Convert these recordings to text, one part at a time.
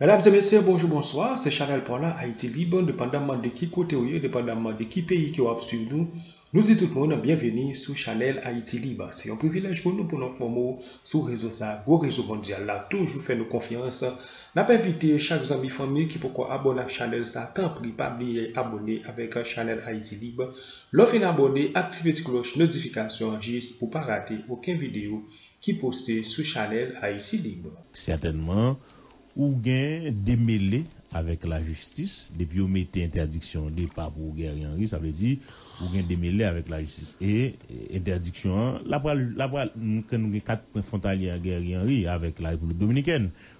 Mesdames et messieurs, bonjou, bonswa, se Chanel paw la Haïti Libre, depandamman de ki kote ou ye, depandamman de ki peyi ke wap swiv nou, nou di tout moun byenveni sou Chanel Haïti Libre. Se yon privilèj pou nou pou nou enfòme w sou rezo sa, gwo rezo mondyal la toujou fè nou konfyans. Nap envite chak zanmi fanmi ki poko abòne ak Chanel sa, tanpri pa bliye abòne avèk Chanel Haïti Libre. Lè w fin abòne, aktive ti klòch notifikasyon an jis pou pa rate oken videyo ki poste sou chanèl Haïti Libre. Sètènman, ou gen demele avèk lajistis, depi yo mete entèdiksyon depa pou Guerrier Henri, sa vle di, ou gen demele avèk lajistis. E, entèdiksyon an, la pral, la pral, nou gen kat pwen fwontalye a Guerrier Henri avèk la Repiblik Dominikèn.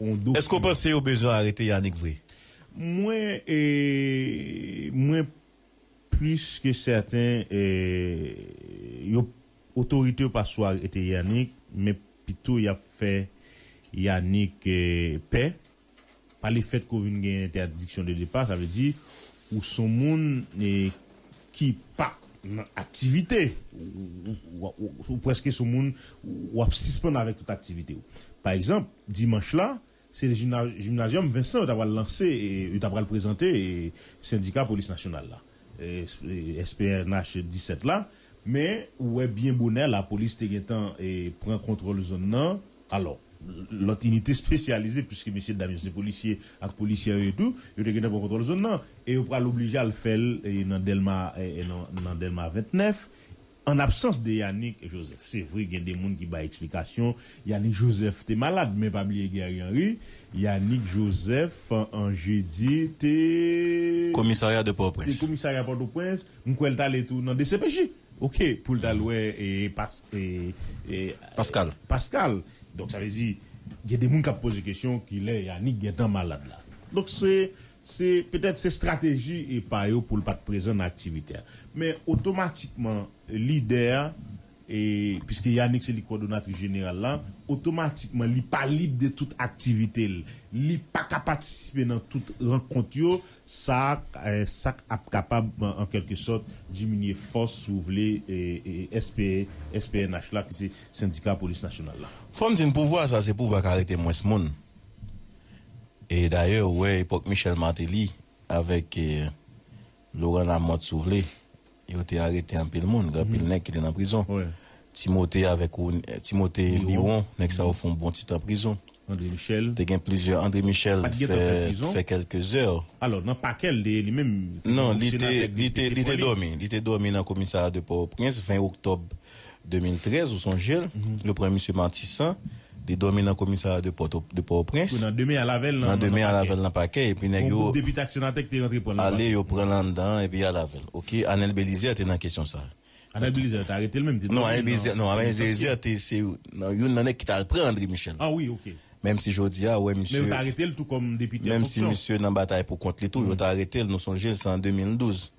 on dokiman. Eske w panse yo bezwen arete Yanick vre? Mwen e mwen plis ke sèten e yo otorite yo pa sou arete Yanick men pito yap fè Yanick e pè pa le fèt ke w vin gen entèdiksyon de depa sa vle di ou son moun e ki pa nan aktivite, ou prèske sou moun, ou ap sispann avèk tout aktivite ou. Pa egzanp, dimanch la, se Gymnasium Vincent yo ta pral lanse, yo ta pral prezante Sendika Polis Nasyonal la, SPNH 17 la, men ou wè byen bonè lapolis te gentan pran kontwòl zòn nan, Alò, lòt inite spesyalize, piske mesyedam yo se polisye ak polisyè yo ye tou, yo te gentan pran kontwòl zòn nan e yo pral oblije al fè l nan Dèlma nan Dèlma 29, an absans de Yanick Joseph. Se vre gen de moun ki bay eksplikasyon Yanick Joseph te malad, men pa bliye Guerrier Henri, Yanick Joseph an jedi te. Komisarya de Pòtoprens. Komisarya Pòtoprens, m kwè l t ale tou nan dcpj. Ok poul tal wè Pascal donk sa vle di gen de moun kap poze kesyon kilè Yanick gentan malad la donk se petèt se strateji epa yo poul pat prezan nan aktivite a men otomatikman lidè a piske Yanick se li kòdonatris jeneral la otomatikman li pa lib de tout aktivite li paka patisipe nan tout rankont yo Sa sa k ap kapab an kèlke sòt diminye fòs, si w vle, SPNH la, ki se Sendika Polis Nasyonal la. Fò m di n pouvwa sa se pouvwa k arete mwens moun. E dayè ou wè epòk Michel Martelly avèk Laurent Lamothe, si w vle, Yo te arete anpil moun, anpil nèg ki te nan prizon. Timote avèk Timote Miwon, nèg sa yo fè yon bon ti tan prizon. Te gen plizyè Andre Michel te fè kèlke zè. Alò nan pakè l te ye li menm? Non, li te dòmi. Li te dòmi nan komisarya de Pòtoprens 20 oktòb. 2013, ou sonje l, yo pran misye Martissant, li dòmi nan komisarya de pòt o, de Pòtoprens. Nan demen al avè l nan, nan pakè. Nan demen al avè l nan pakè, epi nèg yo. Yon gwoup depite ak senatè ki te rantre pran l nan pakè. Ale, yo pran l anndan an, epi y al avè l. Ok, Anel Belizaire te nan kesyon sa a. Anel Belizaire te arete l menm, li te dòmi nan. Non, Anel Belizaire, non, Anel Belizaire te se nan youn nan nèg ki t al pran André Michel. A wi, ok. Menm si jodi a, ou wè misye. Men yo te arete l tou kòm depite an fonksyon. Menm si misye nan batay pou kont li tou, yo te arete l, nou sonje l, se an 2012.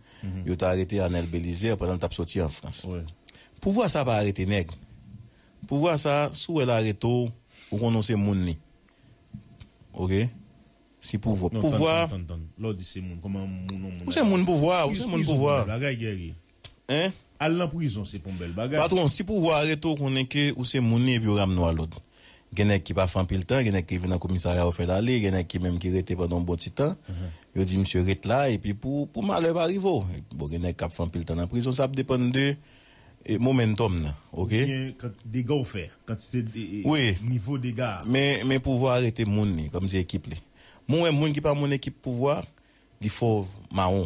yo ta arete Arnel Belizaire pandan l t ap soti an Frans. Pouvwa sa a pa arete nèg. Pouvwa sa a, si w wè l arete w, ou konnen w se moun li. Ok? Si pouvwa. Non, tann, tann, tann, tann. Lè w di se moun, kòman moun yon moun. Ou se moun pouvwa a, ou se moun pouvwa a. Prizon pou bèl bagay, Guerrier. Hein? Al nan prizon se pou yon bèl bagay. Patwon, si pouvwa arete w, konnen ke ou se moun li epi yo ramne w a lòd. Gen nèg ki pa fè anpil tan, gen nèg ki rive nan komisarya yo fè l ale, gen nèg ki menm ki rete pandan yon bon ti tan, yo di misye ret la epi pou malè pa rive w. Bon gen nèg k ap fè anpil tan nan prizon, sa ap depann de momentum nan ok. Oubyen dega w fè, kantite nivo dega a. Men pouvwa a rete moun li, kòmsi ekip li. Mwen wè moun ki pa moun ekip pouvwa, li fò mawon.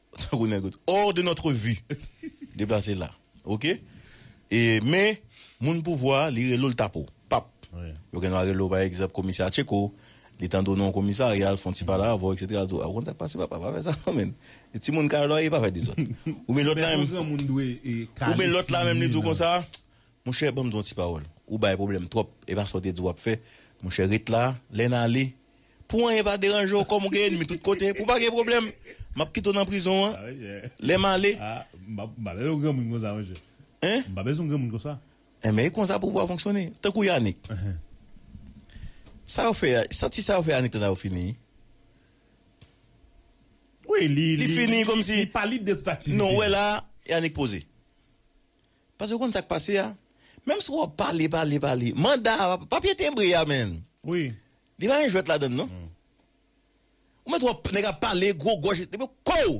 Tankou nèg yo t hors de notre vue deplase la ok e men moun pouvwa li rele w li tape w pap yo gen dwa rele w pa egzanp komisè atcheko li tande w nan yon komisarya l fon ti pale avè w etc li di w a ou konn sak pase papa pa fè sa non menn e timoun kay la e pa fè dezòd ou byen lòt la menm ou byen lòt la menm li di w konsa monchè banm di w yon ti pawòl ou bay pwoblèm twòp e pa sa w te di w ap fè monchè ret la lè n ale Pou anyen pa deranje w kòm ou gen enmi tout kote, pou w pa gen pwoblèm. M ap kite w nan prizon an lè m ale. M pa bezwen yon granmoun konsa monchè. Hein? M pa bezwen yon granmoun konsa. Enben e konsa pouvwa fonksyone. Tankou Yanick. Sa yo fè, santi sa yo fè Yanick la yo fini. Wi, li, li fini kòm si. Li pa lib de tout aktivite. Non, ou wè la, Yanick poze. Paske ou konn sa k pase a? Menm si w ap pale, pale, pale, manda a, papye tenbre a menn. Wi. Li pa gen jwèt ladann non. Ou mèt wè nèg ap pale gwo gòj epi yo kouw!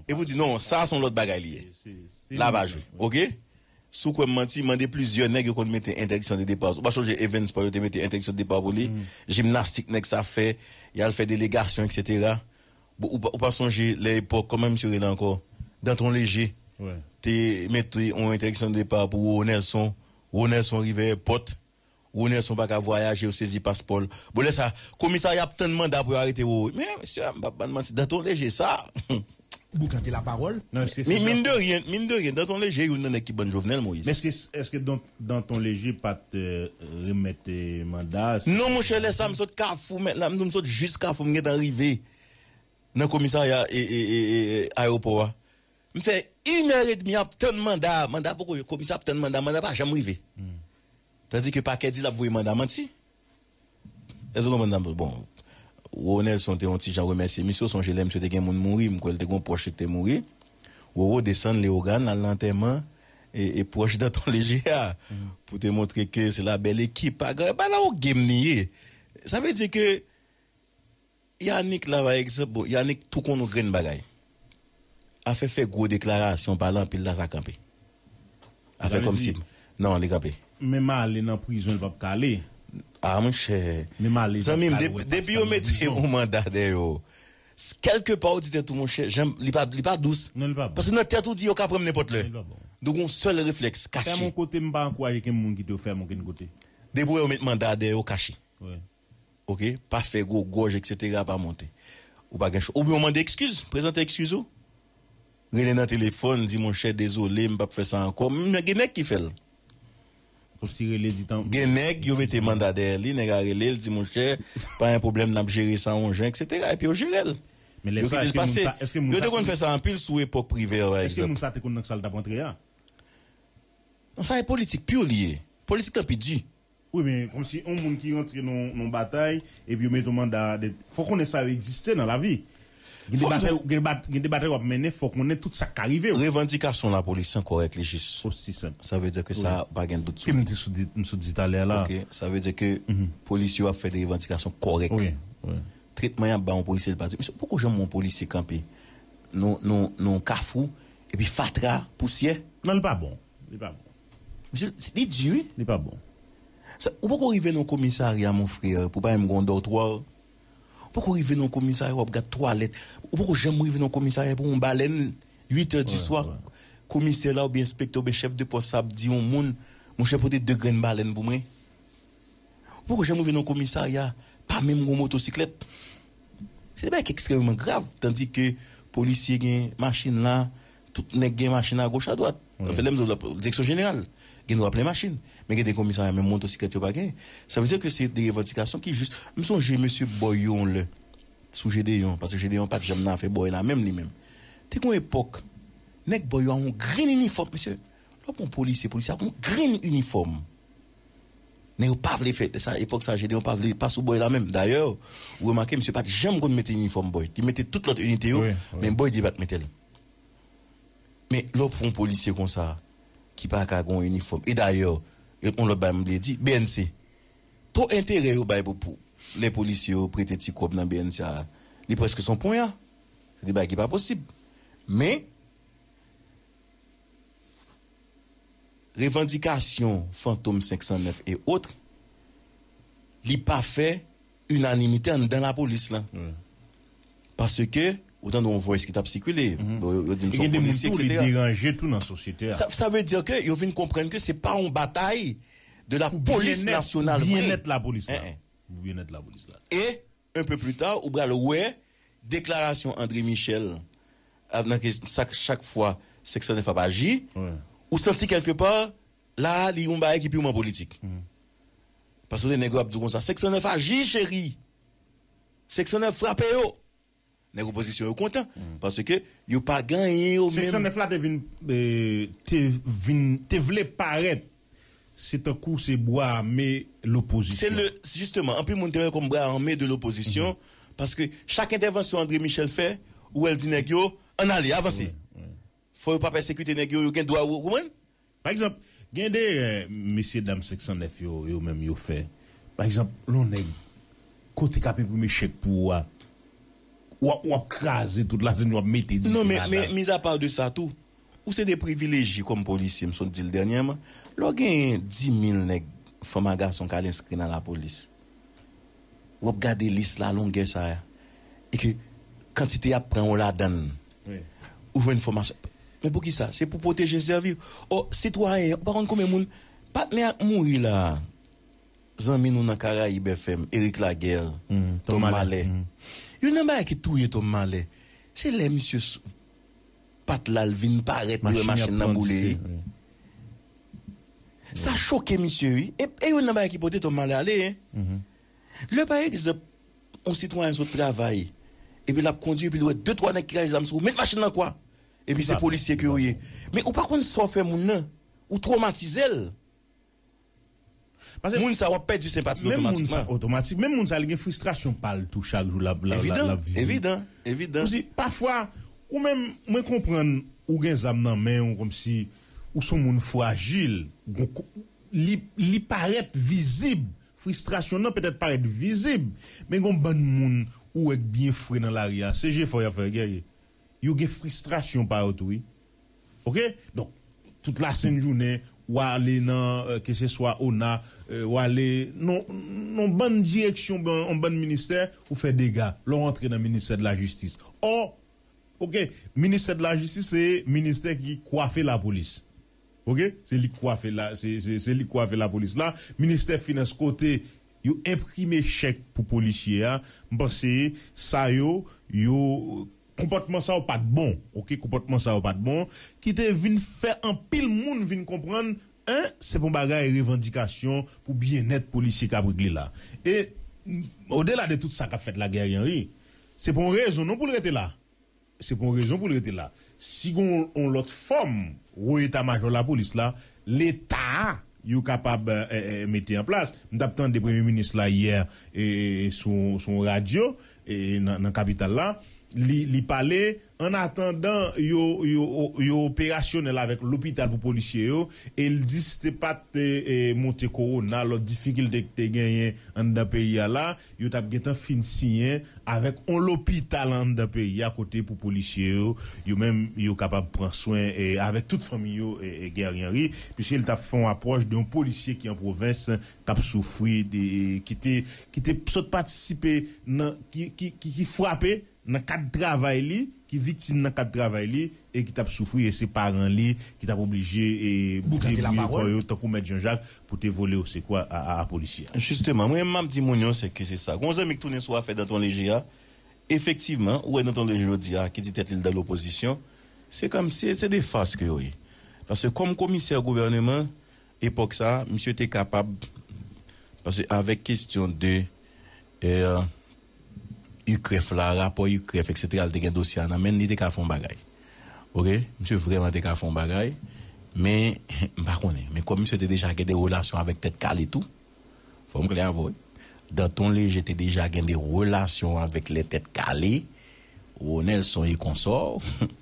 Epi ou di non sa a son lòt bagay li ye. La pa jwe ok. Si w kwè m manti, mande plizyè nèg yo konn mete entèdiksyon de depa. Ou pa sonje Evens Paul yo te mete entèdiksyon de depa pou li? Jimnastik nèg sa fè, y al fè delegasyon eksetera. Ou pa sonje lè epòk kòman misye rele ankò? Danton Leje te mete yon entèdiksyon de depa pou Roro Nelson. Roro Nelson rive èpòt. Ronerson paka vwayaje yo sezi paspòl bon lè sa komisarya ap tann manda pou yo arete wowoy men mesye dam mpap bann manti danton leje sa humm. Boukante la parole nan eske se danton. Min de rien min de rien danton leje youn nan nèg ki bann jovenel moïse. Men eske danton leje pat remèt manda a. Non monchè lè sa m sot kafou mèt la m tou m sot jis kafou m gentan rive nan komisarya ayewopò a. M fè yn heure et demi ap tann manda a manda poko yo komisè ap tann manda manda pa janm rive tandi ke pakè di lap voye manda manti èske ou konprann sa m vle bon Roro Nelson te yon ti jan remèsye misye ou sonje lè misye te gen moun mouri m kwè l te gen yon pwòch li ki te mouri Roro desann Leogane l al nan antèman e pwòch Danton Leger a pou te montre ke se la bèl ekip pa gran e pa la ou gem li ye sa vle di ke. Yanick la pa egzanp bon Yanick tou konn yon grenn bagay afè fè gwo deklarasyon pale anpil la sa kanpe afè kòmsi non li kanpe. Menm ale nan prizon li pap k ale. Ah monchè zanmim depi yo mete yon manda dèyè yo kèlke pa ou di tèt ou monchè janm li pa li pa dous paske nan tèt ou di yo ka pranm nenpòt lè nou gon sèl reflèks kache. Fèm yon kote m pa ankouraje kenn moun kite yo fèm okenn kote. Depi ou wè yo met manda dèyè yo kache. Ok pa fè gwo gòj etc pa monte ou pa gen chwa oubyen ou mande ekskiz prezante ekskiz ou rele nan telefòn di monchè dezole m pap fè sa ankò men gen nèg ki fè l Osi rele di tanpri gen nèg yo mete manda dèyè li nèg a rele l di monchè pa gen pwoblèm nap jere sa yon jan etc epi yo jere l Men lè yo sa kite l eske moun pase sa eske moun yo sa te konn fè sa anpil sou epòk privè pa eske moun ekzanp. sa te konn nan sa l tap antre a. Non sa e politik pur li ye. Politik lan pi di. Wi men komsi yon moun ki rantre nan yon batay epi yo mete yon manda de fò konnen sa yo egziste nan lavi gen de batay gen de batay wap mennen fò konnen tout sak ka rivew. Revandikasyon lapolis an kòrèk li jis. Osi senp. Sa vle di ke sa pa gen dout sou li. Kem di sou di m sot di talè a la. Ok sa vle di ke polis yo ap fè de revandikasyon kòrèk. Wi wi. Tretman yap ba yon polisye li pa di poko janm wè yon polisye kanpe nan yon kafou epi fatra pousyè. Non li pa bon. Li pa bon. Misye, li di wi. Li pa bon. Sa, ou poko rive nan yon komisarya mon frère pou pa menm gen yon dortoir. Ou poko rive nan yon komisarya wap gad twalèt. Ou poko janm rive nan yon komisarya pou yon balèn 8 heures du soir komisè la oubyen enspektè oubyen chèf de pòs sa ap di yon moun monchè pote 2 grenn balèn pou mwen. Mwen poko janm rive nan komisarya pa menm gon motosiklèt. Se de bagay ki ekstrèmeman grav. Tandi ke polisye gen machin la, tout nèg gen machin a goch a dwat. Sa fè lè m di w la direksyon jeneral gen dwa plen machin. Men gen de komisarya menm motosiklèt yo pa gen. Sa vle di ke se de revandikasyon ki jis. M sonje mesye Bòy yo yon lè, sou Jedeyon, paske Jedeyon pa t janm nan afè Bòy la menm li menm. Te gen yon epòk, nèg Bòy yo a yon grenn inifòm mesye. Lè w pran yon polisye, polisye a gon grenn inifòm. Men yo pa vle fè sa epòk sa Jedeon pa vle pa sou Boy la menm dayè ou remake misye pat janm konn mete inifòm Boy li mete tout lòt inite yo men Boy li pat metel men lè w pran yon polisye konsa ki pa ka gen yon inifòm e dayè yon lòt bagay m vle di bnc to enterè yo bay pou lè polisye yo prete ti kòb nan bnc a li prèske son ponya se de bagay ki pa posib men. revandikasyon fantom 509 et autres li pa fè inanimite anndan lapolis lan paske ou tande yon voice ki tap sikile yo dim son polisye etc sa vle di ke yo vin konprann ke se pa yon batay de la polis nasyonal vre et Un peu plus tard ou pral wè deklarasyon André Michel a nan ke sa k chak fwa 509 ap aji ou santi quelque part la a li yon bagay ki purement politik. Paske nèg yo ap di w konsa 509 aji cheri! 509 frape yo! Nèg opozisyon yo kontan paske yo pa gen anyen yo menm. 509 la te vin te vin te vle parèt se tankou se bwa ame lopozisyon. Se jisteman anpil moun te wè kòm bwa ame de lopozisyon paske chak entèvansyon André Michel fè ou wè l di nèg yo ann ale avanse. Fò yo pa pèsekite nèg yo, yo gen dwa, ou konprann? Pa egzanp, gen de erè mesye dam 509 yo, yo menm yo fè. Pa egzanp, lè yon nèg kote kap enprime chèk pou ou a, wap wap kraze tout la zin wap mete dife ladan. Non men, mizapa de sa tou, ou se de privilejye kòm polisye, m sot di l dènyèman, lè w genyen 10000 nèg, fanm a gason k al enskri nan lapolis. w ap gade lis la longè sa a e ke kantite y ap pran w ladan l, ou jwenn fòmasyon. Men poukisa? Se pou pwoteje, sèvi. O, sitwayen, ou pa konn konbyen moun patnè ak mouri la a? Zanmi nou nan Karayib FM, Eric Laguerre, Tom Malè. Youn nan bagay ki touye Tom Malè, se lè misye. Pat la l vin parèt li wè machin nan boule wi. Sa choke misye wi. E youn nan bagay ki pote Tom Malè ale hein. Lè pa egzanp yon sitwayen sot travay epi lap kondwi epi li wè 2 3 nèg ki rache zam sou ou met machin nan kwa epi se polisye ke ou ye men ou pa konn sa w fè moun nan ou twomatize l Pase moun sa wap pèdi senpati l otomatikman. Menm moun sa li gen fristrasyon pa l tou chak jou lap viv. Pousi pafwa ou menm mwen konprann ou gen zam nan men w komsi ou son moun frajil li parèt vizib fristrasyon nan petèt parèt vizib men gon bann moun ou wè k byen fre nan lari a se jefò yap fè gèyè. Yo gen fristrasyon pa yo tou wi ok donk tout la sent jounen wa ale nan ke se swa ona wale nan yon bann direksyon yon bann ministè ou fè dega lè w antre nan ministè de la jistis ò ok ministè de la jistis se ministè ki kwafe la polis. Ok se lik kwafe la se lik kwafe la polis la ministè finans kote yo enprime chèk pou polisye a m panse sa yo yo konpòtman sa yo pat bon ok konpòtman sa yo pat bon ki te vin fè anpil moun vin konprann 1 se pon bagay revandikasyon pou byennèt polisye kap regle la e odela de tout sa kap fèt la Guerrianri se pon rezon non poul rete la. Se pou yon rezon pou l rete la. Si gen yon lòt fòm wo eta majò lapolis la, leta a, yo kapab mete an plas. M t ap tande premye minis la yè sou yon radyo nan kapital la, li pale an atandan yo operasyonèl avèk lopital pou polisye yo e l di si te pa t monte kowona, lòt difikilte ki te genyen anndan peyi a la, yo tap gentan fin siyen avèk on lopital anndan peyi a kote pou polisye yo, yo menm yo kapab pran swen avèk tout fanmi yo Guerrier Henry, piske li tap fè on apwòch de on polisye ki an pwovens kap soufri, ki te sot patisipe nan, ki frape. nan kad travay li, ki viktim nan kad travay li e ki t ap soufri e se paran li ki t ap oblije bouke bouye kò yo tankou mèt Jan Jak pou te vole osekou a polisye a. Jisteman, mwen m ap di moun yo se ke se sa. Gon zanmi k tounen sou afè Danton Leje a, efektivman, ou wè Danton Leje jodi a ki di tèt li l dan lopozisyon, se kòm si se de fars ke yo ye. Paske kòm komisè gouvèneman epòk sa a, misye te kapab, paske avèk kestyon de. UCREF la, rapò UCREF eksetera li te gen dosye a nan menn li te ka fè yon bagay ok misye vrèman te ka fè yon bagay men m pa konnen men kòm misye te deja gen de relasyon avèk tèt kale tou fò m klè avè w wi Danton Léger te deja gen de relasyon avèk lè tèt kale Ro Nelson e konsò humm.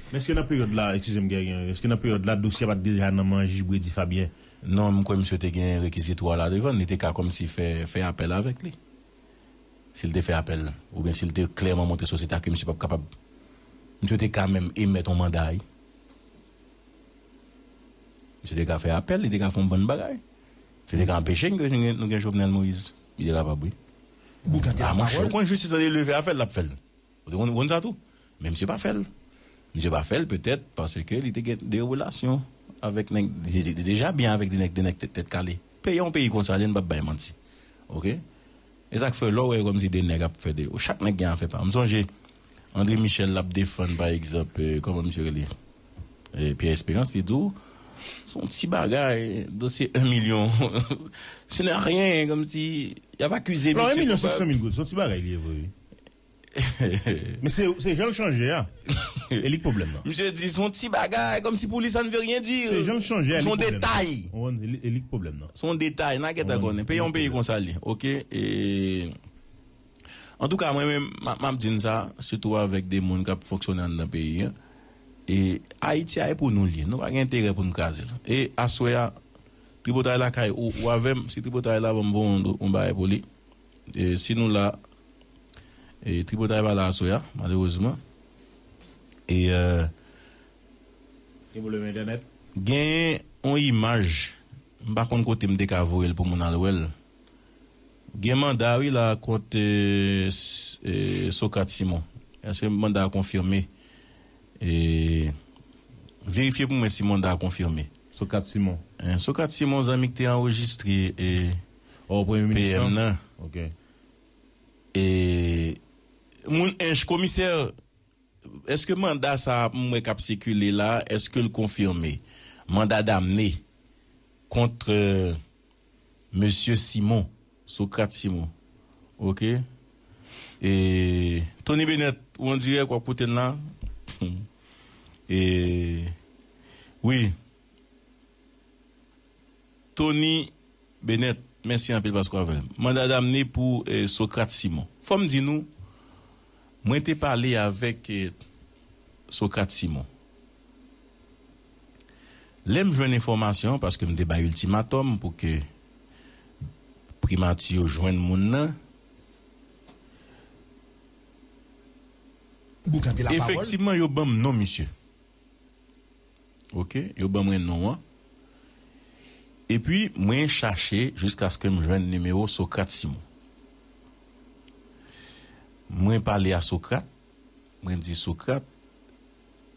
Men eske nan peryòd la eskize m gen yon eske nan peryòd la dosye a pa t deja nan man jij Bredy Fabien? Non m kwè misye te gen rekizitou a la devan li te ka kòmsi fè fè apèl avèk li. si l te fè apèl oubyen si l te klèman montre sosyete a ke misye pap kapab, misye te ka menm emèt yon manda wi. Misye te ka fè apèl, li te ka fè yon bann bagay. Misye te ka anpeche n ke nou gen Jovenel Moïse. Li te kapab wi. Boukante la pawòl. A monchè, ou konn jistis lan li leve a fè l, l ap fè l. Ou te konn konn sa tou? Men misye pa fèl. Misye pa fèl petèt paske li te gen de relasyon avèk nèg, li te deja byen avèk de nèg, de nèg tèt kale. Peyi yon peyi konsa jen pap bay manti. Ok. E sak fè lè w wè kòmsi de nèg ap fè de, chak nèg gen afè pa yo. M sonje Andre Michel lap defann pa egzanp kòman misye rele Pierre Esperance li di w son ti bagay dosye 1 milyon ce n'est rien kòmsi yap akize misye. Non 1 milyon 500 mil goud son ti bagay li ye vre wi. Men se jan l chanje a e li k pwoblèm nan. Misye di son ti bagay kòmsi pou li sa ne veut rien dire. Se jan l chanje a li k pwoblèm nan. Son detay. Ou konprann e li k pwoblèm nan. Son detay na gentan konnen. Peyi a yon peyi konsa li ok e antouka mwen menm m ap di n sa sitou avèk de moun k ap fonksyone anndan peyi a e Ayiti a e pou nou l ye nou pa gen enterè pou n kraze l e aswè a tripotay lakay ou avè m si tripotay la ban m voronn yon bagay pou li. Si nou la, tripotay pa la aswè a, malerezman. Gen pwoblèm entènèt. Genyen yon imaj, m pa konn kote m te ka voye l pou moun al wè l. Gen manda wi la kont Socrate Simon. Eske manda a konfime? Verifye pou mwen si manda a konfime. Socrate Simon. Socrate Simon zanmi ki te anrejistre. PM nan e moun ench komisè eske manda sa m wè kap sikile la eske l konfime manda damne kont mesye simon sokrat simon ok e toni benèt ou an dirèk wap koute n la humm e wi. Tony Benet mèsi anpil paske w avè m. Manda damne pou Socrate Simon. Fò m di nou, mwen te pale avèk Socrate Simon. Lè m jwenn enfòmasyon an, paske m te bay iltimatòm pou ke Primati yo jwenn moun nan, efektivman yo ban m non misye. Ok yo ban mwen non an. Epi mwen chache jiskaske m jwenn nimewo Socrate Simon. Mwen pale a Socrate, mwen di Socrate,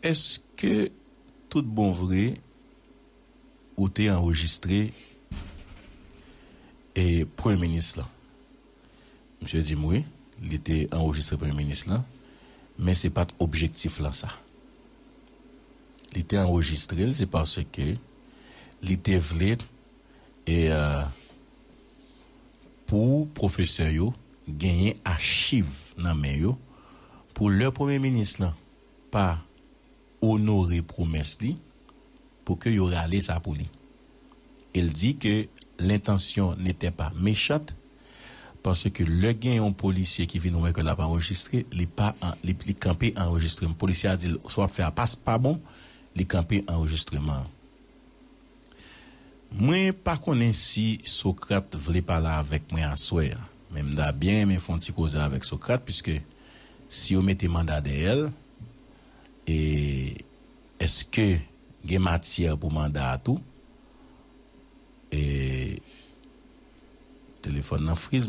eske tout bon vre ou te anrejistre premye minis lan? Misye di m wi, li te anrejistre Premye Minis lan, men se pa t objektif lan sa. Li te anrejistre l se paske li te vle pou pwofesè yo genyen achiv nan men yo pou lè Premye Minis lan pa onore pwomès li pou ke yo rale sa pou li. El di ke lentansyon n'était pas méchante parce que lè gen yon polisye ki vin wè ke l'ap anrejistre, li pa li kanpe anrejistreman. Polisye a di'l sa w'ap fè a pas pa bon, li kanpe anrejistreman an. Mwen pa konnen si Socrate vle pale avèk mwen aswè a, men m'ta byen renmen f'on ti koze avèk Socrate, puiske si yo mete manda dèyè'l, e eske gen matyè pou manda a tou e telefòn nan friz.